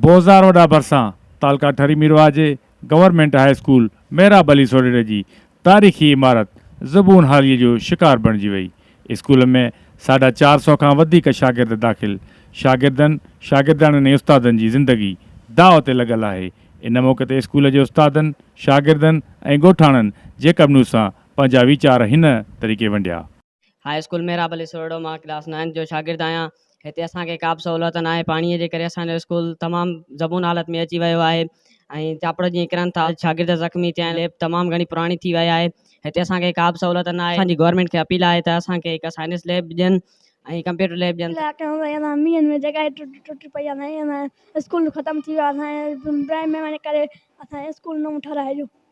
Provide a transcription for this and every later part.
بوزار وڏا ڀرسان تعلقه ٺري ميرواهه جي government high school Mehrab Ali سوڍيري جي تاريخي عمارت زبون حاليء جو شڪار بڻجي وئي. اسڪول ۾ ساڍا چار سؤ کان وڌيڪ شاگرد داخل. شاگردن، شاگردياڻين ۽ استادن جي زندگي داء تي لڳل آهي. ان موقعي تي اسڪول جي استادن، شاگردن ۽ ڳوٺاڻن جيڪب نيوز سان پنهنجا ويچار هن طريقي ونڊيا. هاء اسڪول محراب علي سورڙو مان ڪلاس نائنٿ جو شاگرد آهيان هتي اسان کي ڪابه سهولت ناهي پاڻي جي ڪري اسان جو اسڪول تمام زبون حالت ۾ اچي ويو آهي ۽ چاپڙ جيئن ڪرن ٿا شاگرد زخمي ٿيا آهن ليب تمام گهڻي پراڻي ٿي وئي آهي هتي اسان کي ڪابه سهولت ناهي اسان جي گورنمينٽ کي اپيل آهي ته اسان کي هڪ سائنس ليب ڏين ۽ ڪمپيوٽر ليب ڏين ته اسان جي اسڪول مينهن ۾ جڳهه ئي ٽٽي پئي آهي اسان جو اسڪول ختم ٿي ويو آهي اسان جي پرائمري ڪري اسان جي اسڪول نئون ٺهرائجو.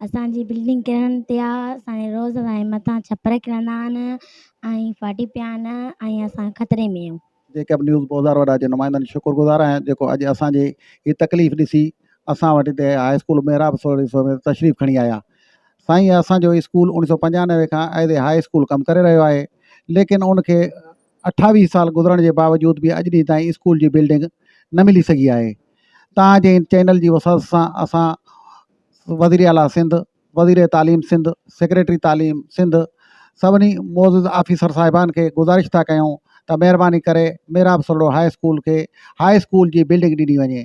اسان جي بلڊنگ ڪرڻ تي آ اسان جي روز اسان جي مٿان ڇپر ڪرندا آھن ۽ ڦاٽي پيا آھن ۽ اسان خطري ۾ آھيون. جيڪب نيوز بوزار وڏا جي نمائندن جي شڪر گذار آھيان جيڪو اڄ اسان جي ھي تڪليف ڏسي اسان وٽ ھتي ھاء اسڪول محراب سورھيسو ۾ تشريف کڻي آيا سائين اسان جو اسڪول اوڻيھ سؤ پنجانوي کان ايز اي ھاء اسڪول ڪم ڪري رھيو آھي ليڪن ان کي اٺاويهه سال گذرڻ جي باوجود به اڄ ڏينهن تائين اسڪول جي بلڊنگ نه ملي سگهي آهي توهان جي ان چينل جي وسعت سان اسان وزير اعليٰ سنڌ وزير تعليم سنڌ سيڪريٽري تعليم سنڌ سڀني معزز آفيسر صاحبان کي گذارش ٿا ڪيون ته مهرباني ڪري محراب سرڙو هاء اسڪول کي هاء اسڪول جي بلڊنگ ڏني وڃي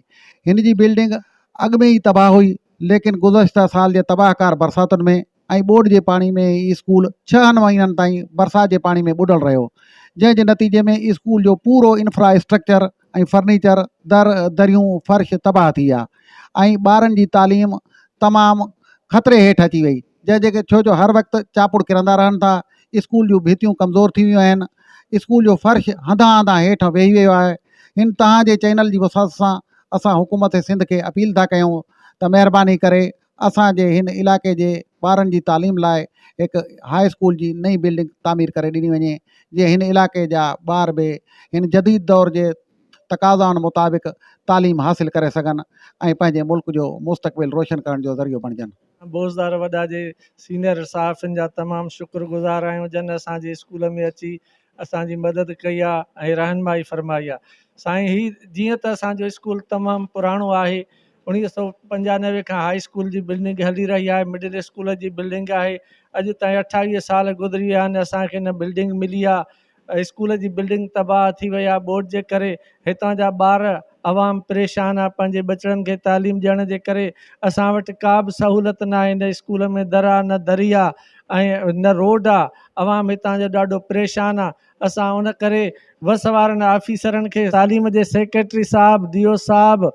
هن جي بلڊنگ اڳ ۾ ئي تباهه هئي ليڪن گذشته سال جي تباهه ڪار برساتن ۾ ۽ ٻوڏ جي پاڻي ۾ هي اسڪول ڇهن مهينن تائين برسات جي پاڻي ۾ ٻڏل رهيو جنهن جي نتيجي ۾ اسڪول جو پورو انفرا اسٽرڪچر ۽ فرنيچر در دريون فرش تباهه ٿي ويا ۽ ٻارن جي تعليم تمام خطري هيٺ اچي وئي جنهن جي ڇو جو هر وقت چاپڙ ڪرندا رهن ٿا اسڪول جون ڀيتيون ڪمزور ٿي ويون آهن اسڪول جو فرش هنڌان هنڌان هيٺ ويهي ويو آهي هن توهان جي چينل جي وسعت سان اسان حڪومت سنڌ کي اپيل ٿا ڪيون ته مهرباني ڪري اسان جي هن علائقي جي ٻارن جي تعليم لاء هڪ هاء اسڪول جي نئين بلڊنگ تعمير ڪري ڏني وڃي جيئن هن علائقي جا ٻار به هن جديد دور جي تقاضائن مطابق تعليم حاصل ڪري سگهن ۽ پنهنجي ملڪ جو مستقبل روشن ڪرڻ جو ذريعو بڻجن. بوزدار وڏا جي سينئر صحافين جا تمام شڪر گذار آهيون جن اسان جي اسڪول ۾ اچي اسان جي مدد ڪئي آ ۽ رهنمائي فرمائي آ سائين هي جيئن ته اسان جو اسڪول تمام پراڻو آهي اوڻيهه سئو پنجانوي کان هائي اسڪول جي بلڊنگ هلي رهي آهي مڊل اسڪول جي بلڊنگ آهي اڄ تائين اٺاويهه سال گذري ويا آهن اسان کي نه بلڊنگ ملي آ اسڪول جي بلڊنگ تباهه ٿي وئي آ ٻوڏ جي ڪري هتان جا ٻار، عوام پريشان آ پنهنجي ٻچڙن کي تعليم ڏيڻ جي ڪري اسان وٽ ڪا به سهولت ناهي نه اسڪولن ۾ در آ نه دري آ ۽ نه روڊ آ عوام هتان جو ڏاڍو پريشان آ اسان ان ڪري وس وارن آفيسرن کي تعليم جي سيڪريٽري صاحب ڊي او صاحب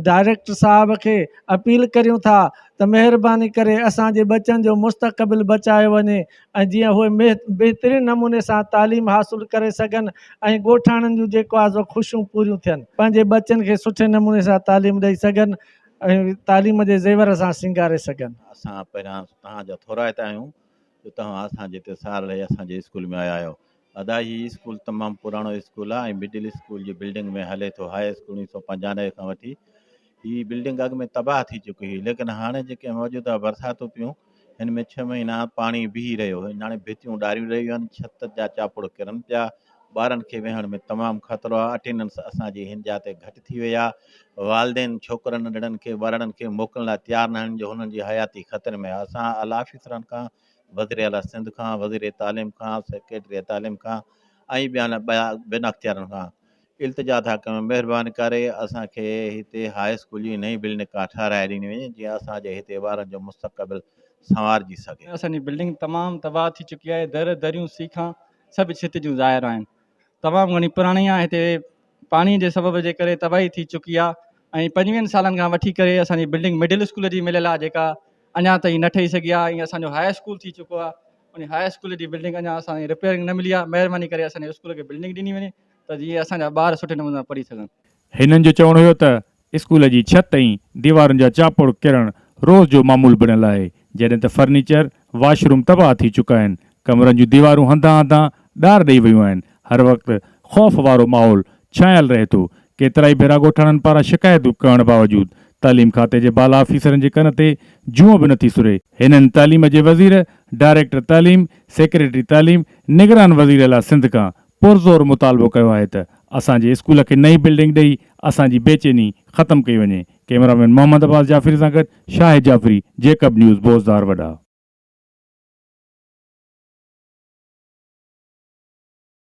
ڊائريڪٽر صاحب کي اپيل ڪريون ٿا ته مهرباني ڪري اسان جي ٻچن جو مستقبل بچايو وڃي ۽ جيئن اهي بهترين نموني سان تعليم حاصل ڪري سگهن ۽ ڳوٺاڻن جون جيڪو آزو خوشيون پوريون ٿين. پنهنجي ٻچن کي سٺي نموني سان تعليم ڏئي سگهن ۽ تعليم جي زيور سان سينگاري سگهن. اسان پهريان توهان جا ٿورائتا آهيون جو توهان اسان جي تي سال رهي اسان جي اسڪول ۾ آيا آهيو. ادا هي اسڪول تمام پراڻو اسڪول آ ۽ مڊل اسڪول جي بلڊنگ ۾ هلي ٿو هاء اسڪول اڻيهه سؤ پنجانوي کان وٺي هي بلڊنگ اڳ ۾ تباهه ٿي چڪي هئي ليڪن هاڻي جيڪي موجوده برساتون پيون هن ۾ ڇهه مهينا پاڻي بيهي رهيو هاڻي ڀتيون ڏاريون رهيون آهن ڇت جا چاپڙ ڪرن پيا ٻارن کي ويهڻ ۾ تمام خطرو آ اٽيننس اسان جي هن جا تي گهٽ ٿي وئي آ والدين ڇوڪرن ننڍڙن کي ٻارڙن کي موڪلڻ لاء تيار ناهن جو هنن جي حياتي خطري ۾ آ اسان اعليٰ آفيسرن کان وزير اعليٰ سنڌ کان، وزير تعليم کان، سيڪريٽري تعليم کان ۽ ٻين بين اختيارن کان التجا ٿا ڪيون مهرباني ڪري اسان کي هتي هاء اسڪول جي نئين بلڊنگ ڪا ٺهرائي ڏني وڃي جيئن اسان جي هتي ٻارن جو مستقبل سنوارجي سگهي. اسان جي بلڊنگ تمام تباهه ٿي چڪي آهي، در دريون سيخان سڀ ڇت جون ظاهر آهن، تمام گهڻي پراڻي آهي هتي پاڻي جي سبب جي ڪري تباهي ٿي چڪي آهي ۽ پنجويهن سالن کان وٺي ڪري اسانجي بلڊنگ مڊل اسڪول جي مليل آهي جيڪا اڃا تائين نه ٺهي سگهي آهي ۽ اسانجو هاء اسڪول ٿي چڪو آهي ان هاء اسڪول جي بلڊنگ اڃا اسانجي رپيرنگ نه ملي آهي مهرباني ڪري اسانجي اسڪول کي بلڊنگ ڏني وڃي ته جيئن اسانجا ٻار سٺي نموني سان پڙهي سگهن. هنن جو چوڻ هيو ته اسڪول جي ڇت ۽ ديوارن جا چاپوڙ ڪرڻ روز جو معمول بڻيل آهي، جڏهن ته فرنيچر، واش روم تباهه ٿي چڪا آهن، ڪمرن جون ديوارون هنڌان هنڌان ڏار ڏئي ويون آهن، هر وقت خوف وارو ماحول ڇانيل رهي ٿو، ڪيترائي ڀيرا ڳوٺاڻن پاران شڪايتون ڪرڻ باوجود تعليم کاتي جي بالا آفيسرن جي ڪن تي جونء به نٿي سري، هنن تعليم جي وزير، ڊائريڪٽر تعليم، سيڪريٽري تعليم، نگران وزير اعليٰ سنڌ کان پرزور مطالبو ڪيو آهي ته اسان جي اسڪول کي نئين بلڊنگ ڏئي اسان جي بي چيني ختم ڪئي وڃي، ڪئميرا مين محمد عباس جعفري سان گڏ شاهد جعفري، جيڪب نيوز، بوزدار وڏا.